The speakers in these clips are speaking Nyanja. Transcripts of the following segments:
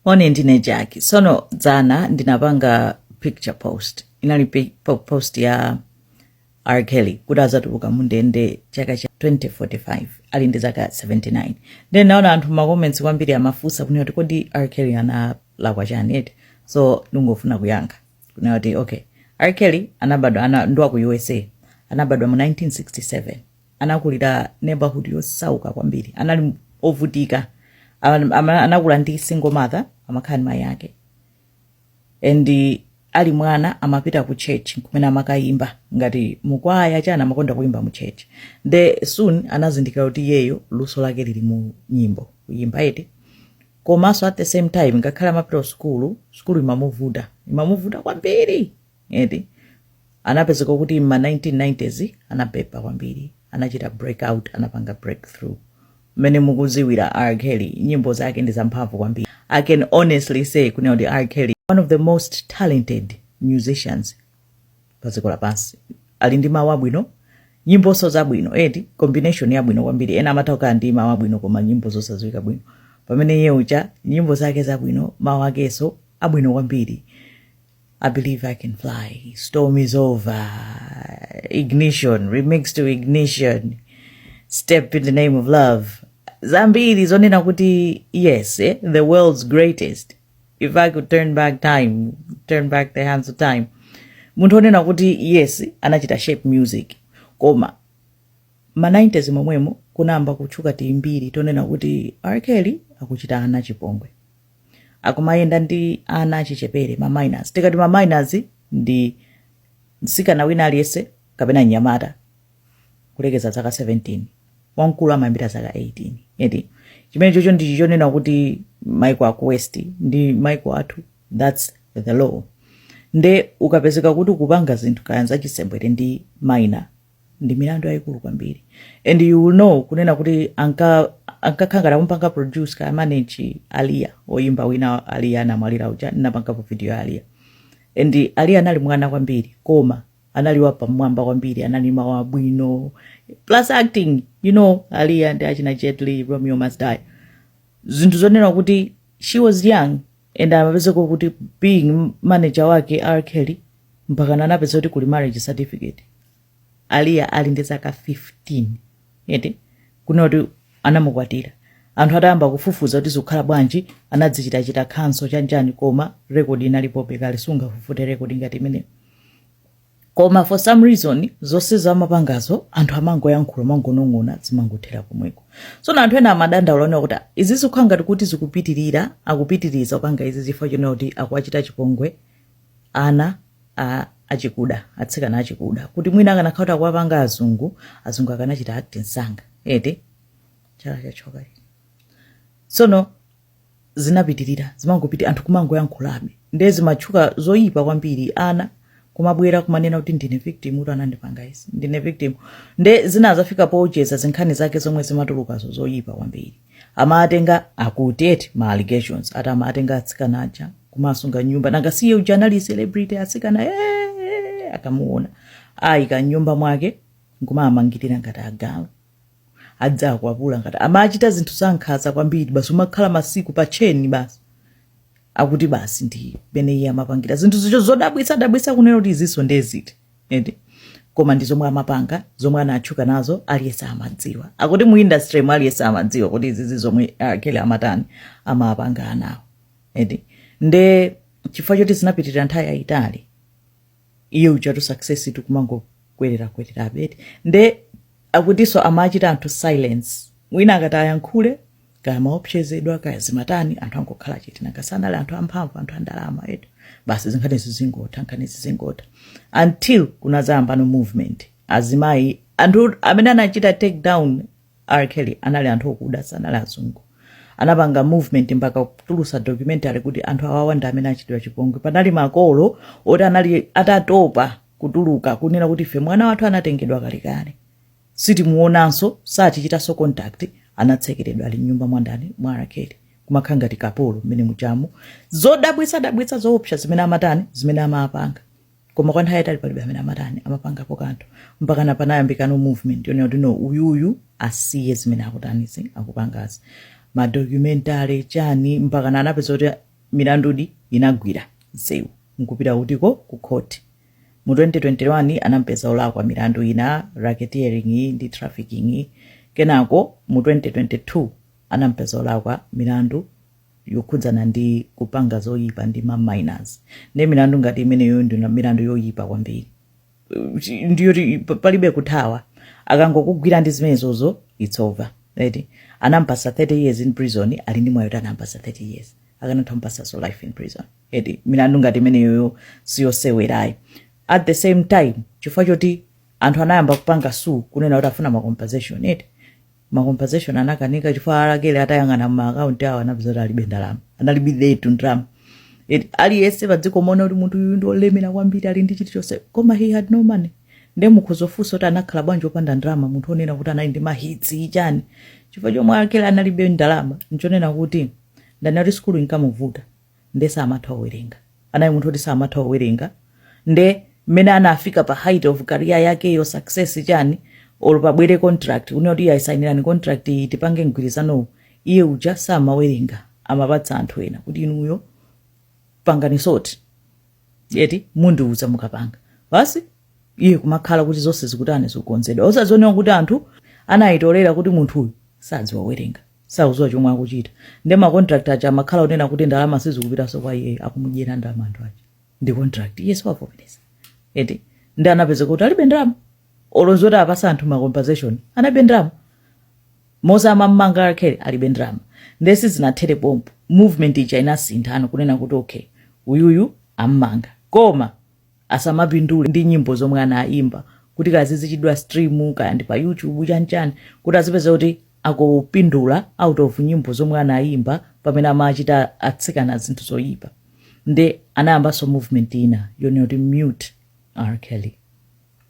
moni ndine jackie sono dzana ndinapanga picture post inali pi- po- post ya r kelly kuti azatuluka mundende chaka cha 2045 ali ndi zaka 79 nde ndinaona anthu macomments kwambiri amafunsa kunena kuti kodi r kelly analakwa chani eti so ndingofuna kuyankha kunena kuti okay r kelly anabadwa ana, ndi wa ku usa anabadwa mu 1967 anakulira neighborhood yosauka kwambiri anali ovutika Ama- ama- anakula ndi single mother amakhala ndi mayi ake and eh, ali mwana amapita ku church kumene amakayimba ngati mukwaya chani amakonda kuyimba mu church nde soon anazindikira kuti iyeyo luso lake lili mu nyimbo kuyimba eti komanso at the same time ngakhale amapita ku sukulu sukulu imamuvuta imamuvuta kwambiri eti anapezeka kuti mma 1990s anabeba kwambiri anachita break out anapanga breakthrough mmene mukuziwira r kelly nyimbo zake ndi zamphamvu kwambiri i can honestly say kunena kuti r kelly one of the most talented musicians pa dziko lapansi ali ndi mawu abwino nyimboso zabwino eti combination yabwino kwambiri ena amatha kukhala ndi mawu abwino koma nyimbo zosadziwika bwino pamene iye uja nyimbo zake zabwino mawu akeso abwino kwambiri I believe I can fly. Storm is over. Ignition, remix to ignition. Step in the name of love. Zambiri zonena kuti yes, eh? the world's greatest. If I could turn back time, turn back the hands of time. Munthu onena kuti yes, anachita shape music. Koma ma 90s momwemo kunayamba kutchuka timbiri tonena kuti R. Kelly akuchita ana chipongwe. akumayenda ndi ana achichepere ma minors tikati ma minors ndi mtsikana wina aliyense kapena mnyamata kulekeza zaka 17 wamkulu amayambira zaka 18 eti chimene chocho ndichi chonena kuti maiko aku west ndi maiko athu thats the law nde ukapezeka kuti ukupanga zinthu kaya zachisembwere ndi minor ndi milandu yayikulu kwambiri and you will know kunena kuti anka ankakhala ngati akumupanga produce kaya manage aliya oyimba wina aliya anamwalira uja ndinapangapo video ya aliya and aliya anali mwana kwambiri koma anali wapamwamba kwambiri anali ndi mawu abwino plus acting you know aliya ndi achina jet li romeo must die zinthu zonena kuti she was young and amapezeka kuti being manager wake R Kelly mpakana anapeza kuti kuli marriage certificate aliya ali ndi zaka 15 eti kunena kuti anamukwatira anthu atayamba kufufuza kuti zikukhala bwanji anadzichitachita cancel chanichani koma rekodi inalipobe kale sungafufute rekodi ngati imeneyo koma for some reason zonsezo amapangazo anthu amangoyankhula mongonong'ona zimangothera komweko so anthu ena amadandaula kunena kuti izi zikukhala ngati kuti zikupitirira akupitiliza kupanga izi chifukwa chonena kuti akuwachita chipongwe ana a achikuda atsikana achikuda kuti mwina akanakhala kuti akuwapanga azungu azungu akanachita act msanga eti chala chachoka tsono zinapitirira zimangopiti anthu kumangoyankhulabe ndiye zimatchuka zoyipa kwambiri ana kumabwera kumanena kuti ndine victim kuti anandipanga izi ndine victim nde zinazafika poti eza zinkhani zake zomwe zimatulukazo zoyipa kwambiri amatenga akuti eti ma allegations ati amatenga atsikana aja kumawasunga m'nyumba nanga siye uja anali celebrity atsikana eh, akamuona awayika m'nyumba mwake nkumawamangirira ngati agalu adziwakwapula ngati amawachita zinthu zankhaza kwambiri basi umakhala masiku pa tcheni basi akuti basi ndi mmene iye amapangira zinthu choncho zodabwitsa dabwitsa kunena kuti izinso ndeziti ende koma ndi zomwe amapanga zomwe anatchuka nazo aliyense amadziwa akuti mu industry mu aliyense amadziwa kuti izizi zomwe R. Kelly amatani amapanga anawo ende nde chifukwa choti zinapitirira nthawi yayitali iye ujatu success itu kumangokwererakwererabe eti nde akutinso amachita anthu silence wina akati ayankhule kaya amaopsezedwa kaya zimatani anthu angokhala chete nanga sanali anthu amphamvu anthu andalama eti basi zinkhanizi zingotha nkhanizi zingotha until kunazayambano movement azimayi anthu amene anachita take down R. Kelly anali anthu okuda sanali azungu anapanga movement mpaka kutulusa documentary kuti anthu awawa ndi amene achitidwa chipongwe panali makolo oti anali atatopa kutuluka kunena kuti ife mwana wathu anatengedwa kalekale sitimuonanso satichitanso contact anatsekeredwa ali mnyumba mwandani mwa R. Kelly kumakhala ngati kapolo mmene muchamu zodabwitsa dabwitsa zoopsa zimene amatani zimene amapanga koma kwa nthawi yayitali palibe amene amatani amapangapo kanthu mpakana panayambikano movement yonena kuti no uyuyu asiye zimene akutanizi akupangazi madocumentary chani mpakana anapeza kuti milandudi inagwira nsewu nkupita kutiko ku khoti mu 2021 anampeza olakwa milandu ina racketeering ndi trafficking kenako mu 2022 anampeza olakwa milandu yokhudzana ndi kupanga zoyipa ndi ma minors nde milandu ngati imeneyo ndi milandu yoyipa kwambiri Chi- ndiyoti pa- palibe kuthawa akangokugwira ndi zimenezozo it's over right anampasa 30 years in prison ali ndi mwayi woti anampasa 30 years akanatha kumpasanso life in prison eti milandu ngati imeneyoyo siyosewera ayi at the same time chifukwa choti anthu anayamba kupanga sue kunena kuti afuna ma compensation eti ma compensation anakanika chifukwa a R Kelly atayang'ana ma account awo anapeza kuti alibe ndalama analibiretu ndalama Eti aliyense padziko amaona kuti munthu uyu ndiolemera kwambiri ali ndi chilichonse koma he had no money nde mukhoza ofunsa kuti anakhala bwanji opanda ndalama munthu onena kuti anali ndi mahitsi chani chifukwa chomwe a R Kelly analibe ndalama nchonena kuti ndanena eti sukulu inkamuvuta nde samatha uwerenga anali munthu oti samatha uwerenga nde mmene anafika pa height of career yake yo success chani or pabwere contract kunena kuti ayisainirani contract iyi tipange mgwirizanowu iye uja samawerenga amapatsa anthu ena kuti inuyo pangani soti eti mundiuza mukapanga basi iye kumakhala kuti zonse zikutani zikukonzedwa osaziona kuti anthu anayitolera kuti munthu uyu sadziwa owerenga sakuziwa chomwe akuchita nde ma contract aja amakhala onena kuti ndalama sizikupitaso kwa iye akumudyera ndalama anthu aja ndi contract iye si wavomereza eti nde anapeza kuti alibe ndalama olo zoti apasa anthu ma compensation analibe ndalama monse amammanga R Kelly alibe ndalama nde sizinathere pompo movement ija inasinthano kunena kuti okay uyuyu ammanga koma asamapindule ndi nyimbo zomwe anayimba kuti kaya zizichitidwa stream kaya ndi pa youtube chanichani kuti azipeza kuti akupindula out of nyimbo zomwe anayimba pamene amachita atsikana zinthu zoyipa nde anayambanso movement ina yonena kuti mute r kelly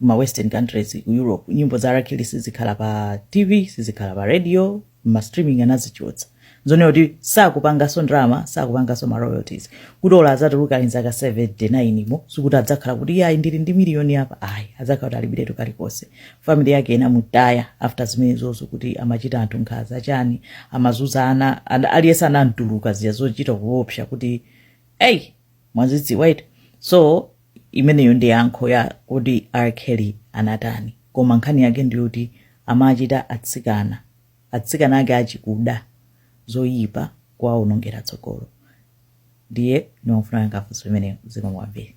mma western countries ku europe nyimbo za a R Kelly sizikhala pa tv sizikhala pa radio mma streaming anazichotsa zonena kuti sakupanganso ndalama sakupanganso ma royalties kuti olo azatuluka ali nzaka 79 mo sikuti adzakhala kuti iye ayi ndili ndi miliyoni apa ayi adzakhala kuti alibiretu kalikonse family yake inamutaya after zimenezozo kuti amachita anthu nkhaza chani amazuza ana ana- aliyense anamtuluka eya zochita kuopsa kuti eyi mwazidziwa eti so imeneyo ndi yankho ya kuti r kelly anatani koma nkhani yake ndiyoti amachita atsikana atsikana ake achikuda zoyipa kuwawonongera tsogolo ndiye ndimafuna amene angafunse imeneyo zikomo kwambiri